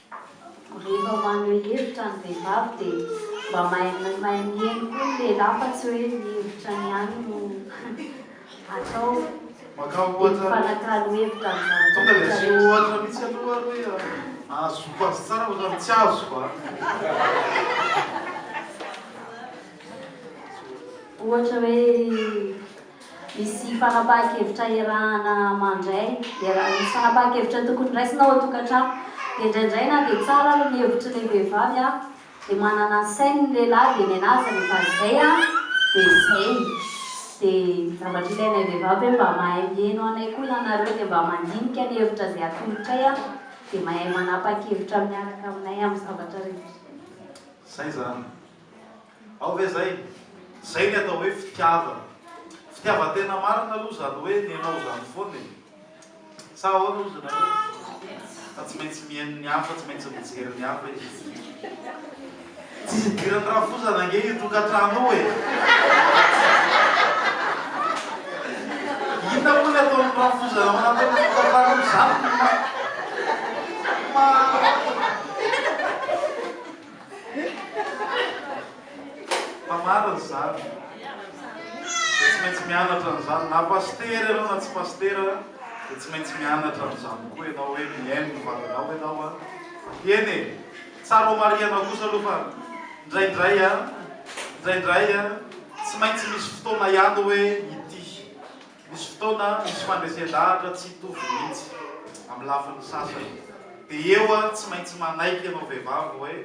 Rehefa maneho hevitra ny vehivavy dia mba mahay mahay mihaino koa ny lehilahy fa tsy hoe ny hevitrany ihany no atao dia mifanakalo hevitra amin'ny zavatra rehetra. Ohatra hoe. Misy fanapahan-kevitra hiarahana mandray. Misy fanapahan-kevitra tokony raisina ao an-tokantrano. Dia indraindray na dia tsara ary ny hevitry ilay vehivavy an, dia manana ny sainy ny lehilahy dia ny anà aza rehefa izay an, dia izay. Dia zavatra ilainay vehivavy hoe mba mahay miheno anay koa ianareo dia mba mandinika ny hevitra izay atolotray an, dia mahay manapahan-kevitra miaraka aminay amin'ny zavatra rehetra. Izay izany. Ao ve zay? Zay ny atao hoe fitiavana. Fitiavan-tena marina aloha zany hoe nenao zany foana e! Sa ahoana ozy nareo? Fa tsy maintsy mihaino ny hafa, tsy maintsy mijery ny hafa izy. Tsy idiran'ny rafozana ange io tokantrano io e! Inona moa ny ataon'ny rafozana manantena ny tokantrano io? Zany no ma. Ma. Fa marina izany. Dia tsy maintsy mianatra an'izany. Na pasitera ianao na tsy pasitera dia tsy maintsy mianatra an'izany koa ianao hoe mihaino ny valinao ianao an. Eny e! Tsara homarihanao kosa aloha fa indraindray an, indraindray an, tsy maintsy misy fotoana ihany hoe hitia. Misy fotoana misy fandresen-dahatra tsy hitovy mihitsy, amin'ny lafiny sasany. Dia eo aho tsy maintsy manaiky ianao vehivavy hoe,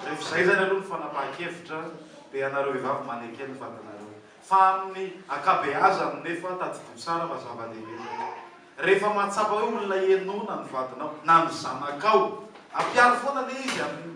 rehefa izay izany aloha ny fanapahan-kevitra, dia ianareo vehivavy maneke ny vatanareo. Fa amin'ny ankabeazany nefa, tadidio tsara fa zava-dehibe izay. Rehefa mahatsapa hoe olona henoina ny vadinao, na ny zanakao, ampiaro foana anie izy amin'ny.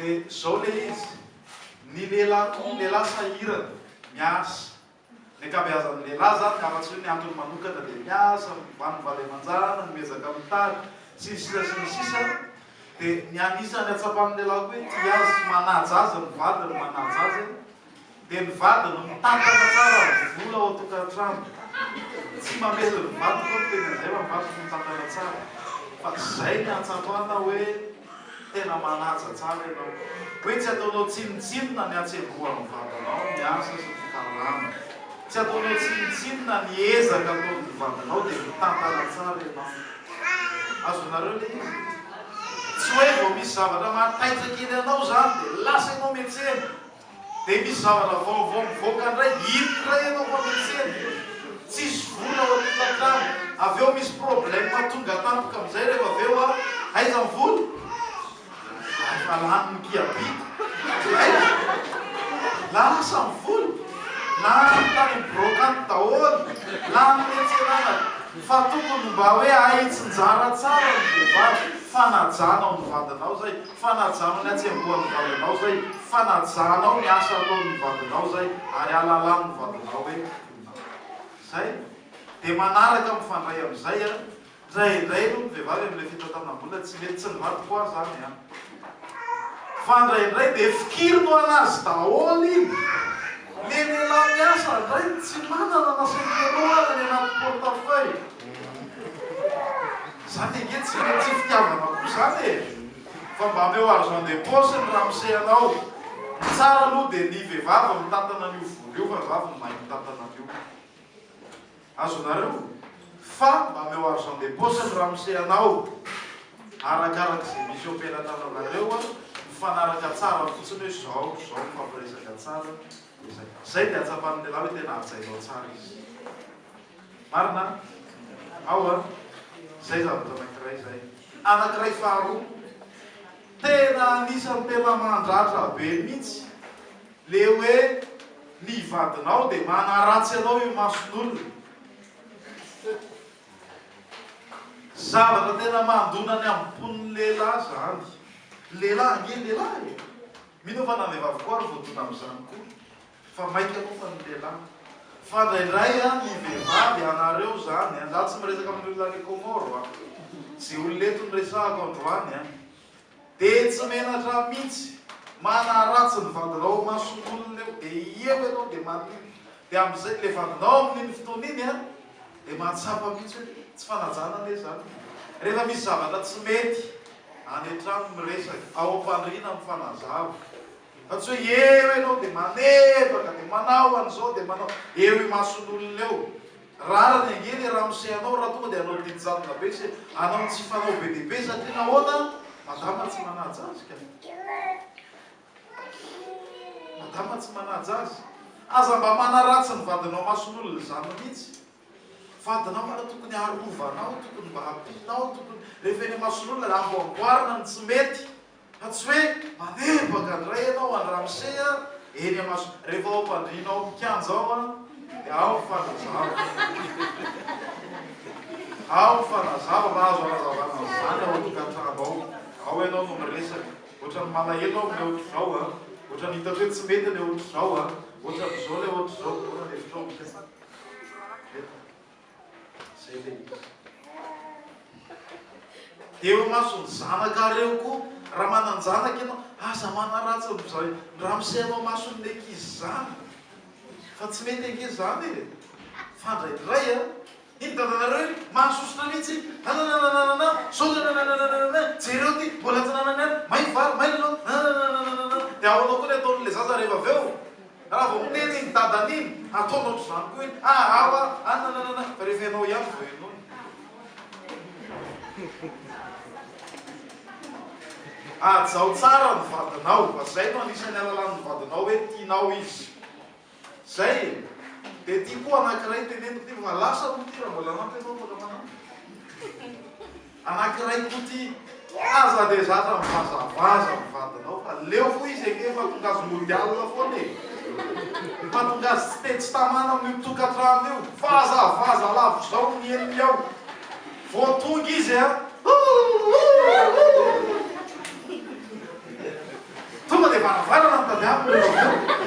Dia zao le izy, ny lehilahy koa, ny lehilahy sahirana, miasa. Ny ankabeazan'ny lehilahy zany, ka afa-tsy hoe ny antony manokana dia miasa, mivano ny vady aman-janany, miezaka mitady, sy ny sisa sy ny sisa. Dia ny anisan'ny hatsapan'ny lehilahy koa hoe tia azy sy manaja azy ny vadiny, manaja azy. Dia ny vady no mitantana tsara ny vola ao an-tokantrano. Tsy mamely ny vady koa ny teny anjera, ny vady no mitantana tsara. Fa izay ny ahatsapana hoe tena manaja tsara ianao. Hoe tsy ataonao tsinontsinona ny hatsembohan'ny vadinao ny asa sy ny fikarama. Tsy ataonao tsinontsinona ny ezaka ataon'ny vadinao dia mitantana tsara ianao. Azonareo ilay izy? Tsy hoe vao misy zavatra mahataitra kely anao izany dia lasa ianao miantsena. Dia misy zavatra vaovao mivoaka indray, iny indray ianao fa miantsena, tsisy vola ao an'ilay trano, avy eo misy problème tonga tampoka amin'izay rehefa avy eo aho, aiza ny vola? Za efa lany ny mpiabiako, aiza? Lasa ny vola, lany tany amin'ny brocante daholo, lany niantsenana fa tokony mba hoe ahitsinjara tsara ny vehivavy, fanajana ao ny vadinao izay. Fanajana ny hatsembohan'ny vadinao zay, fanajanao ny asa ataon'ny vadinao zay ary alalan'ny vadinao hoe mponina aho. Zay, de manaraka mifandray amizay an, ndraindray aloha ny vehivavy amle fitantanam-bola tsy mety tsy ny vadiko an zany an, fa ndraindray de fikiriny ho anazy daholo iny, le lehilahy miasa ndraiky tsy manana na centenaire any anaty portefeuille. Zany ange tsy tsy fitiavana koa zany e! Fa mba ameo argent de poche ny ramose anao! Ny tsara aloha dia ny vehivavy mitantana an'io vola io fa zah vao mahay mitantana an'io! Azonareo? Fa mba ameo argent de poche ny ramose anao! Arakaraka ze misy eo am-pelatananareo an! Mifanaraka tsara fotsiny hoe zao zao mifampiresaka tsara, zay dia ahatsapan'ny lehilahy hoe tena hajainao tsara izy! Marina ao an! Zay zavatra anakiray zay. Anakiray faharoa, tena anisany tena mandratra be mihitsy le hoe ny vadinao de manaratsy anao eo imason'olona. Zavatra tena mandona ny ampon'ny lehilahy zany. Lehilahy ange lehilahy e! Mino aho fa na vehivavy koa ary voadona amzany koa. Fa maika moa fa ny lehilahy. Fada indray an ny vehivavy anareo zany an. Za tsy miresaka amin'ny olona any Comore an. Ze olona eto no resahako androany an. De tsy menatra mintsy. Manaratsy ny vadinao ao mason'olona eo. De eo ianao de manin. De amzay le vadinao amin'iny fotoana iny an. De mahatsapa mintsy hoe tsy fanajana anie zany. Rehefa misy zavatra tsy mety any an-trano miresaka. Ao am-pandriana mifanazava. Fa tsy hoe eo ianao dia manebaka dia manao an'izao dia manao eo imason'olona eo. Rariny ange ilay ramose anao raha tonga dia hanao didy jadona be sy hanao ny tsy fanao be dia be satria nahoana? Madama tsy manaja azy ka. Madama tsy manaja azy. Aza mba manaratsy ny vadinao mason'olona izany mihitsy. Vadinao malao tokony arovanao tokony mba ampianao tokony rehefa eny amason'olona raha vao amboarina ny tsy mety fa tsy hoe manebaka ndray ianao Andry Ramose a eny amaso rehefa ao ampandriana ao ampikianja ao a de ao ny fanazava ao ny fanazava raha azo anazavana an'izany ao an-tokantrano ao ao ianao no miresaka ohatran'ny malahelo aho amin'ilay ohatr'izao a ohatran'ny hitako hoe tsy mety ilay ohatr'izao a ohatran'izao ilay ohatr'izao daholo ny hevitrao Eo imason'ny zanakareo koa raha manan-janaka ianao, aza manaratsy an-dry zareo. Ramose eo imason'ny ankizy izany. Fa tsy mety ange izany e! Fandraidray an! Iny dadanareo iny mahasosotra mihitsy. Nanananananana, izao dia nanananananana, jereo ity, mbola tsy nanana aina, may ny vary, may ny laoka, nanananananana. Dia ahoana koa ny ataon'ilay zaza rehefa avy eo? Raha vao miteny iny dadany iny, ataony ohatr'izany koa iny, ah ah wa ah nananana, rehefa ianao ihany vao henoiny. Hajao tsara ny vadinao fa zay no anisan'ny alalanin'ny vadinao hoe tianao izy. Zay e. Dia ity koa anankiray teneniko ity fa lasa moa ity raha mbola hanampy ianao mbola manampy. Anankiray koa ty aza de zatra mivazavaza am vadinao fa leo fo izy eke fa tonga azy mody alina foana e! Fa tonga azy tsy te tsy tamana am io tokatrano io! Vazavaza lavitr zao ny henony ao! Vo tonga izy a! Houhouhouhou! Tonga dia varavarana no tadiaviko rehefa avy eo.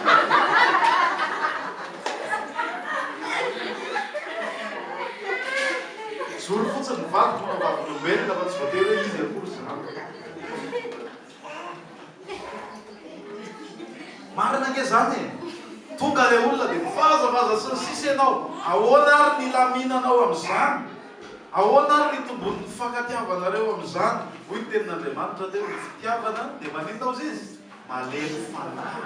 Mijoro fotsiny ny vadiko manao vavolombelona fa tsy voatery hoe izy akory izany. Marina ange izany e! Tonga ilay olona dia mivazavaza sy ny sisa ianao. Ahoana ary ny hilaminanao amin'izany? Ahoana ary no itomboan'ny fifankatiavanareo amin'izany? Hoy ny Tenin'Andriamanitra teo, Ny fitiavana dia maninona hozy izy? Malemy fanahy.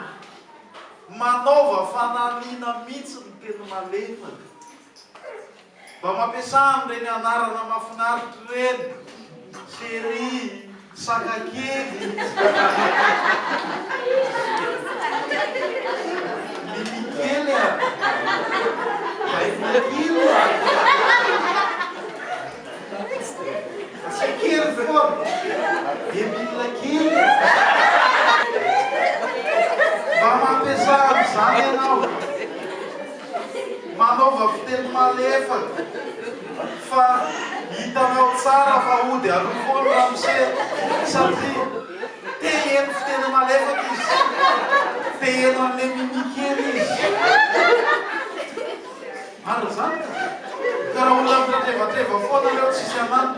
Manaova fananina mihitsy ny teny malefaka. Mba mampiasa an'ireny anarana mahafinaritra ireny, chérie. Saka kely Biby kely a Baiko kely a Tsy kely foana Debile kely Mba mampiasà an'izany ianao. Manaova fiteny malefaka fa hitanao tsara fa hody aloha foana ramose satria te heno fiteny malefaka izy, te heno an'le mimi kely izy. Marina zany ka! Ka raha olona mitrevatrevafoana reo tsisy anany.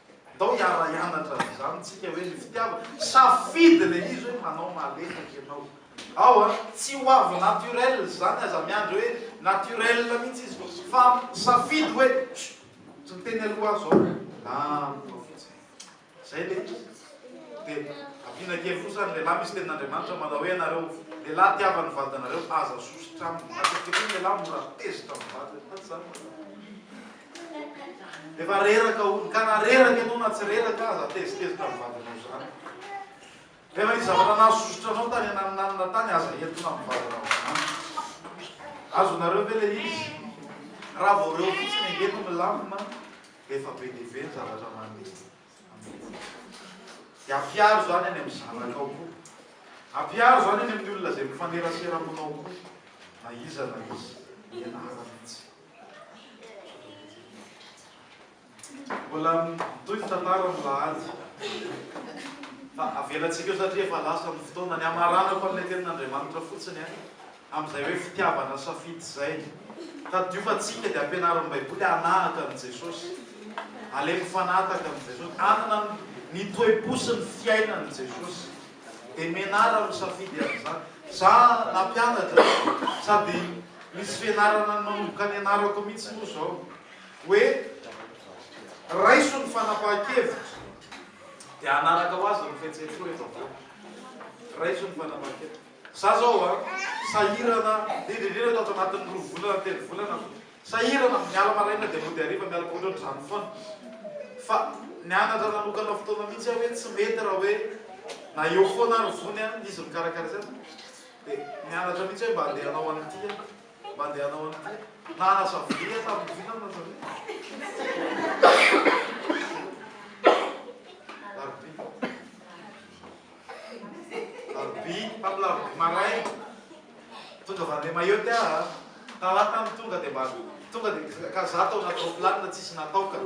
Ndao hiara-hianatra an'izany tsika hoe ny fitiavana, safidy le izy hoe manao maletaka ianao. Ao a, tsy ho avy naturel zany aza miandry hoe naturel mihitsy izy fa safidy hoe tsy miteny aloha aho zao milamina fotsiny. Zay le izy. De ampiana kely kosa ny lehilahy misy tenin'Andriamanitra manao hoe anareo lehilahy tiava ny vadinareo aza sosotra aminy. Matetika koa ny lehilahy mora tezitra amin'ny vadiny, tsy zany? Efa reraka hono, ka na reraka ianao na tsy reraka aza tezitezitra amin'ny vadinao izany. Nefa ny zavatra nahasosotra anao tany ananinanina tany aza entina amin'ny vadinao izany. Azonareo ve ilay izy? Raha vao reo fotsiny ange no milamina dia efa be dia be ny zavatra mandeha amin'iny. Dia ampiaro izany any amin'ny zanakao koa. Ampiaro izany any amin'ny olona izay mifanerasera aminao koa, na iza na iza, ianarana mihitsy. Mbola mitohy ny tantara amin'ny alahady. Fa avelantsika eo satria efa lasa ny fotoana. Ny hamaranako an'ilay tenin'Andriamanitra fotsiny an, amin'izay hoe fitiavana safidy izay. Tadiofantsika dia ampianarin'ny Baiboly hanahaka an'i Jesosy. Aleon'ny fanahy tahaka an'i Jesosy. Hanana ny toe-po sy ny fiainan'i Jesosy. Dia menarra no safidy amin'izany. Za nampianatra sady misy fianarana nanomboka nianarako mihitsy moa izao hoe raiso ny fanapahan-kevitra dia hanaraka ho azy ny fihetseham-po rehefa avoaka. Raiso ny fanapahan-kevitra. Za zao a, sahirana indrindra indrindra ato anatin'ny roa volana, telo volana aho. Sahirana ny miala maraina dia mody hariva miala koa otrany zany foana fa nianatra nanokana fotoana mihitsy aho hoe tsy mety raha hoe na eo foana ary vony a izy mikarakara izay dia nianatra mihitsy hoe mba handeha hanao an'ity aho mba handeha hanao an'ity aho nanasa vilia aho tamin'ny vina aho nanasa vilia Alarobia, tamin'ny larobia maraina, tonga avy any Mayotte aho, talata no tonga dia mba tonga dia ka za tao anaty roplanina tsisy natao ka.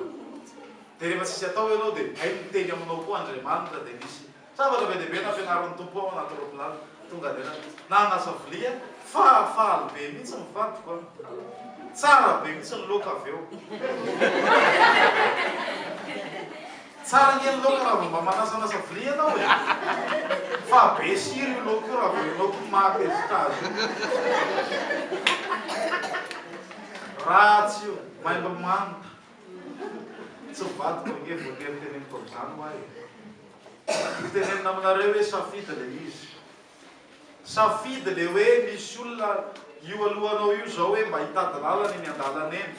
Dia rehefa tsisy atao ianao dia hay miteny aminao koa Andriamanitra dia nisy zavatra be dia be nampianarin'ny Tompo aho anaty roplanina, tonga dia nanasa vilia, fahafaly be mihitsy ny vadiko an! Tsara be mihitsy ny laoka avy eo. Tsara ange ny laoka raha vao mba manasanasa vilia ianao e! Fa be sira io laoka io raha vao ianao koa maha tezitra azy io. Ratsy io, maimbo manta. Tsy vadiko ange voatery teneniko amin'izany hoa e! Ho tenenina aminareo hoe safidy ilay izy. Safidy le hoe misy olona io alohanao io zao hoe mba hitady lalana eny andalana eny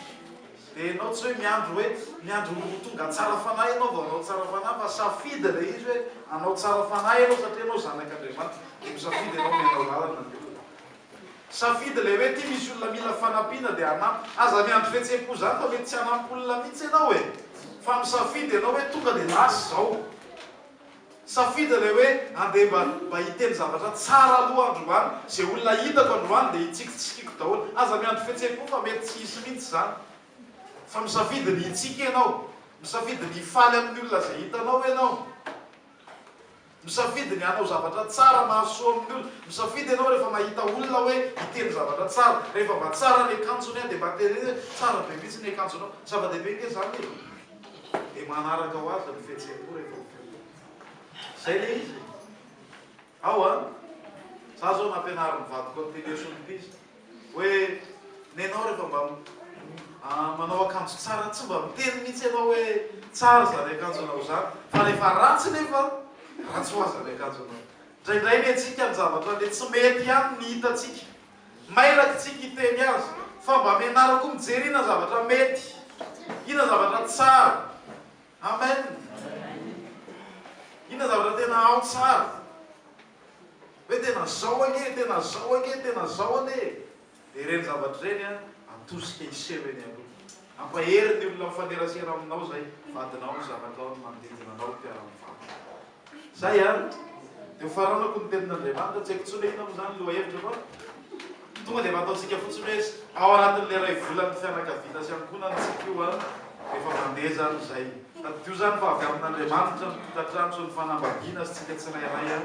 de enao tsy hoe miandry hoe miandry ho tonga tsara fanahy enao vao anao tsara fanahy fa safidy le izy hoe anao tsara fanahy enao satria enao zanak'Andriamanitra de misafidy enao ny anao lalana ny olona safidy le hoe ty misy olona mila fanampiana de anampy aza miandry fihetsem-po zany fa mety tsy hanampy olona mitsy enao e fa misafidy enao hoe tonga de lasa zao. Safidy ilay hoe andeha mba mba hiteny zavatra tsara aloha androany, izay olona hitako androany dia hitsiky tsy sikiko daholo, aza miandry fihetseham-po fa mety tsy hisy mihitsy izany, fa misafidy ny hitsiky ianao, misafidy ny hifaly amin'ny olona izay hitanao ianao, misafidy ny hanao zavatra tsara mahasoa amin'ny olona, misafidy ianao rehefa mahita olona hoe hiteny zavatra tsara, rehefa mba tsara ny akanjony an dia mba teneno hoe tsara be mihitsy ny akanjonao, zava-dehibe ange izany e! Dia manaraka ho azy ny fihetseham-po rehefa mifidy. Izay ilay izy e! Ao an! Izaho izao nampianarin'ny vadiko an'ity leson ity izy hoe nenao rehefa mba manao akanjo tsara tsy mba miteny mihitsy ianao hoe tsara izany akanjonao izany fa rehefa ratsy nefa ratsy ho azy ny akanjonao. Indraindray mentsika ny zavatra le tsy mety ihany ny hitantsika Mailaka tsika hiteny azy fa mba mianara koa mijery inona zavatra mety, inona zavatra tsara. Amen. Inona zavatra tena ao tsara. Hoe tena zao anie, tena zao anie, tena zao anie. Dia ireny zavatra ireny atosika hiseho eny aloha. Hampahery ny olona mifanerasera aminao izay vadinao ny zava ataony manodidina anao ry mpiara mivarotra. Zay ary de ho faranako ny tenin Andriamanitra, tsy haiko intsony hoe inona mo zany loha hevitra fa tonga de efa ataontsika fotsiny hoe ao anatin le ray volan ny fianakavina sy ankohonan tsika io an de efa mandeha zany zay. Tadidio zany fa avy amin Andriamanitra ny tokatrano sy ny fanambadiana sy tsika tsirairay an